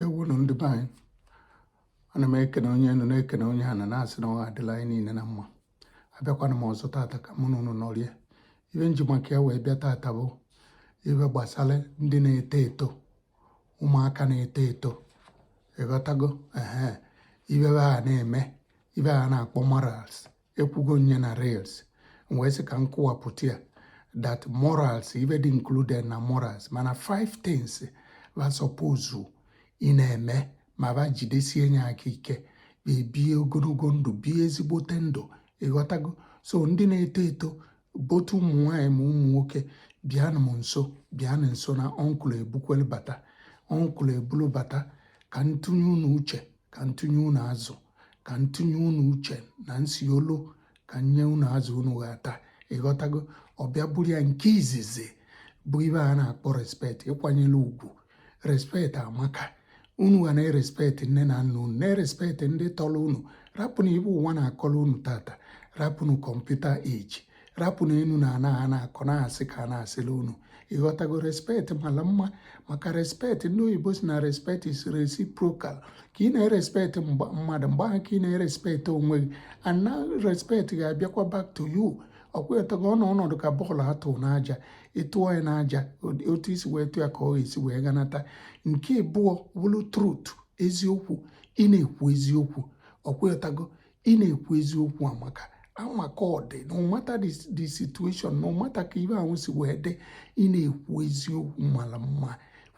ewunu ndị be anyị ana m ekene onye enu na-ekene onye ana na-asị na ọ ga-adịlị anyị niile na mma abịakwana m ọzọ tata ka mụ na unu nọrie ibe m ji maka ya wee bịa tata bụ ibe gbasara ndị na-eto eto ụmụaka na-eto eto ịghọtago ee ibe ba na-eme ibe a na-akpọ morals ekwugo m nye na reels wee sị ka m kụwapụta ya that morals ibe dị included na morals mana five things ba suppose ị na-eme ma ba jidesie nye aka ike ba ebie ogologo ndụ bie ezigbote ndụ ịghọtago so ndị na-eto eto both ụmụ nwaanyị ma ụmụ nwoke bịanụ m nso bịanụ nso na uncle ebukwelu bata uncle ebulu bata ka m tụnye unu uche ka m tụnye unu azụ ka m tụnye unu uche na m si olu ka nye unu azụ unu ga-ata ịghọtago ọ bịa bụrụ ya nke izizi bụ ibe a na-akpọ respect ịkwanyere ugwu respect amaka unu ga na-erespect nne na nna unu na-erespect ndị tọrọ unu rapụnụ ibe ụwa na-akọrọ unu tata rapụnụ computer age rapụnụ enu na ana a na-akọ na asị ka a na-asịlị unu ịghọtago respect mala mma maka respect ndị oyibo sị na respect is reciprocal ka ị na-erespect mmadụ mgbe ahụ ka ị na-erespect onwe gị and na respect ga-abịakwa back to you ọkwetago ọ na ọ na-adị ka bọọlụ a tụ n'aja ị tụọ ya n'aja otu i si wee tụ ya ka ọ ga-esi wee ganata nke ịbụọ bụrụ truth eziokwu ị na-ekwu eziokwu ọkwetago ị na-ekwu eziokwu amaka amaka ọ dị no matter the the situation no matter ka ibe ahụ si wee dị ị na-ekwu eziokwu mara mma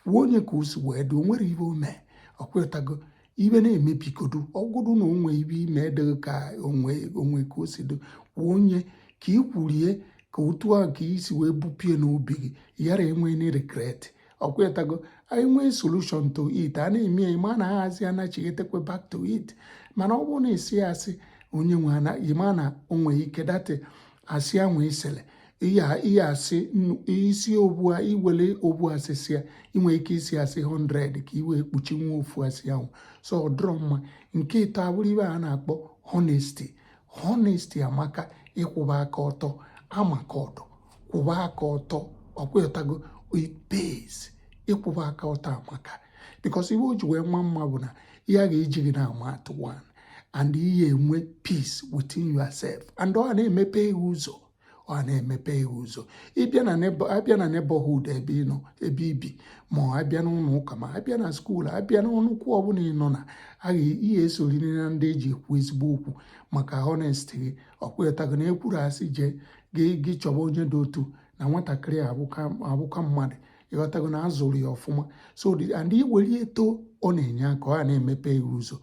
kwuo nye ka o si wee dị o nwerọ ibe o mee ọkwetago ibe na-emebigodu ọ bụrụ na o nwe ibe i me edịghị ka o nwe o nwe ka o si dị kwuo nye ka i kwurie ka otu a ka i si wee bupụ ya n'obi gị yara inwe any regret ọkwetago anyị nwee solution to it a na-eme ya ma na ahazi anachighetekwe back to it mana ọ bụrụ na ị sị ya asị onye nwe anaghị ma na o nwe ike that asị ya nwee isele ihe asị isi obua iwele obu asị ị sị ya i nwe ike ịsị asị 100 ka i wee kpuchie nwa ofu asị ahụ so ọ dịrọ mma nke ịtọ abụrụ ibe a na-akpọ honesty honesty amaka ịkwụba aka ọtọ amaka ọ dị kwụwa aka ọtọ ọkwetago it pays ịkwụwa aka ọtọ amaka because ibe o ji wee ma mma bụ na ihe a ga-eji gị na-ama atụ one and ị ga-enwe peace within yourself and ọ na-emepe ihe ụzọ ọ na-emepe ihe ụzọ ị bịa na a bịa na neighborhood ebe ị nọ ebe i bi ma ọ a bịa n'ụlọ ụka ma a bịa na school a bịa n'ọnọdụ ọbụla ị nọ na ya ị ga-esoriri na ndị e ji ekwu ezigbo okwu maka honesty gị ọkwetago na ekwuru asị jee gị chọba onye dị otu na nwatakịrị abụka mmadụ ịghọtago na azụrụ ya ọfụma so and iwere eto ọ na-enye aka ọ na-emepe ya ụzọ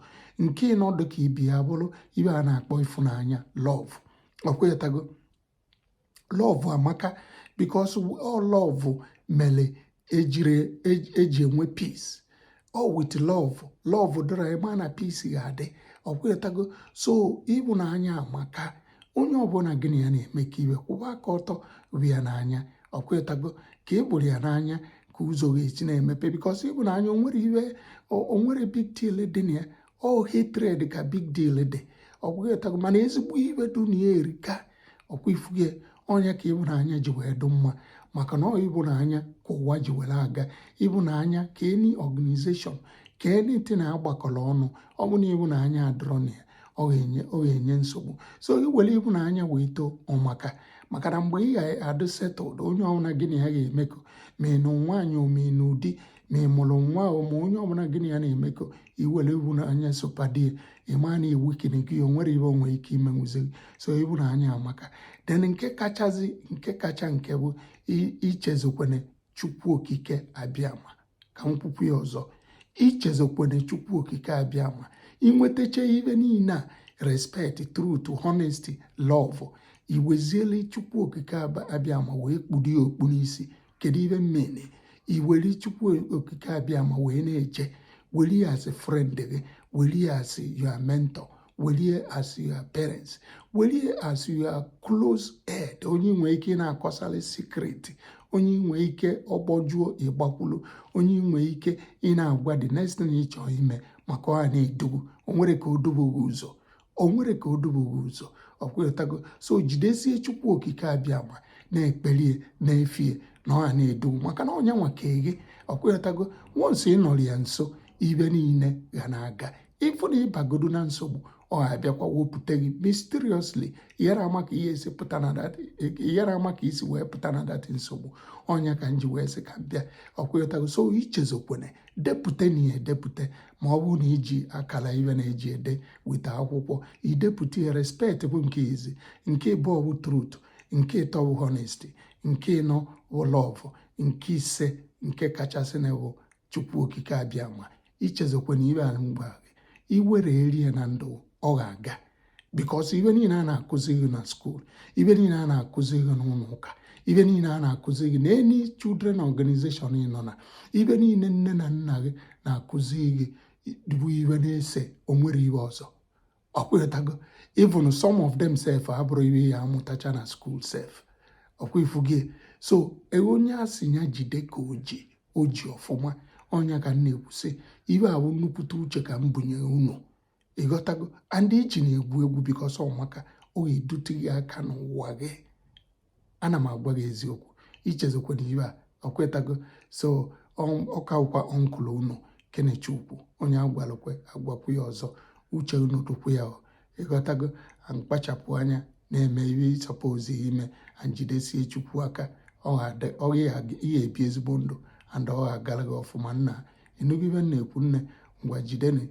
nke ịnọ dịka ị bịa bụrụ ibe a na-akpọ ịfụnanya love ọkwetago love amaka because ọ love mere eji enwe peace ọ with love love dịrị a ma na peace ga-adị ọkwetago so ịhụnanya amaka onye ọbụla gị na ya na-emekọ ihe kwụba aka ọtọ hụ ya n'anya ọkwetago ka ị hụrụ ya n'anya ka ụzọ ga-esi na-emepe because ịhụnanya onwere big deal dị na ya ọ hatred ka big deal dị ọkwetago mana ezigbo ihe dị na ya erika ọkwa ị fugo ọ nya ka ịhụnanya ji wee dụ mma maka na ọ ịhụnanya ka ụwa ji were aga ịhụnanya ka any organization ka anything na-agbakọrọ ọnụ ọ bụ na ịhụnanya adịrọ na ya ọ ga-enye nsogbu so iwere ịhụnanya wee too ọ maka maka na mgbe ị ga-adụ settled onye ọbụla gị na ya ga-emekọ ma ị nụ nwaanyị ma ị nụ di ma ị mụrụ nwa ma onye ọbụla gị na ya na-emekọ iwere ịhụnanya sopadie ịma na i weakenigo ya o nwere ihe o nwe ike imenwuzi so ịhụnanya amaka then nke kachazi nke kacha nke bụ ichezokwene chukwu okike abịama ka m kwukwu ya ọzọ ichezokwene chukwu okike abịama inwetacha ibe niile a respect truth honesty love iweziele chukwu okike abịama wee kpudo ya okpu n'isi kedu ihe m mean iwere chukwu okike abịama wee na-eche were ya as friend gị were ya as your mentor were ya as your parents were ya as your close aide onye i nwee ike ị na-akọsali secret onye i nwee ike ọ gbajọọ ịgbakwulu onye i nwee ike ị na-agwa the next thing ị chọọ ime maka ọ na-edu gị o nwere ka o dufuo gị ụzọ o nwere ka o dufuo gị ụzọ ọkwetago so jidesie chukwu okike abịama na-ekpelie na-efie na ọ na-edu maka na ọ nya nwa kee gị ọkwetago once ị nọrọ ya nso ibe niile ga na-aga even ị bagodu na nsogbu ọ abịakwa wepụta gị mysteriously ị yara ama ka isi wee pụta na that nsogbu ọ nya ka m ji wee sị ka m bịa ọkwetago so ichezokwene depụta na ya edepụta ma ọ bụrụ na iji akara ihe na-eji ede weta akwụkwọ idepụta ya respect bụ nke izi nke ịbụọ bụ truth nke ịtọ bụ honesty nke ịnọ bụ love nke ise nke kachasị na bụ chukwu okike abịama ichezokwana ihe ahụ m gwa gị iwere ya na ndụ ọ ga-aga because ibe niile a na-akụzi gị na school ibe niile a na-akụzi gị n'ụlọ ụka ibe niile a na-akụzi gị na any children organization ị nọ na ibe niile nne na nna gị na-akụzi gị bụ ibe na-ese onwere ibe ọzọ ọkwetago even some of them sef abụrọ ibe ị ya-amụtacha na school sef ọkwa ị fụgo so e, onye a sị ya jide ka o ji o ji ọfụma ọ nya ka m na-ekwusị ibe a bụ nnukwute uche ka m bunye unu ịghọtago and ejina egwu egwu because ọmaka ọ ga-edute gị aka n'ụwa gị ana m agwa gị eziokwu echezọkwana ibe a ọkwetago so ọ ka bụkwa uncle unu kenechukwu onye a gwalụ kwe a gwakwu ya ọzọ uche unu dụkwu ya ịghọtago kpachapụ anya na-eme ihe ị suppose ime and jidesie chukwu aka ike bie ezigbo ndụ and ọ ga-agara gị ọfụma nna ị nụgo ibe m na-ekwu nne ngwa jideni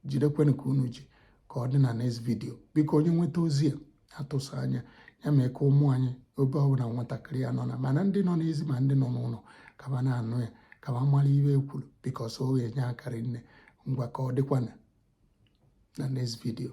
jidekwenụ ka unu ji ka ọ dị na next video biko onye nweta ozi a atụsa anya ya mee ka ụmụ anyị ebe ọbụla nwatakịrị ya nọ na mana ndị nọ n'ezi ma ndị nọ n'ụlọ ka ba na-anụ ya ka ba mara ibe e kwuru because ọ ga-enye aka rinne ngwa ka ọ dịkwana na next video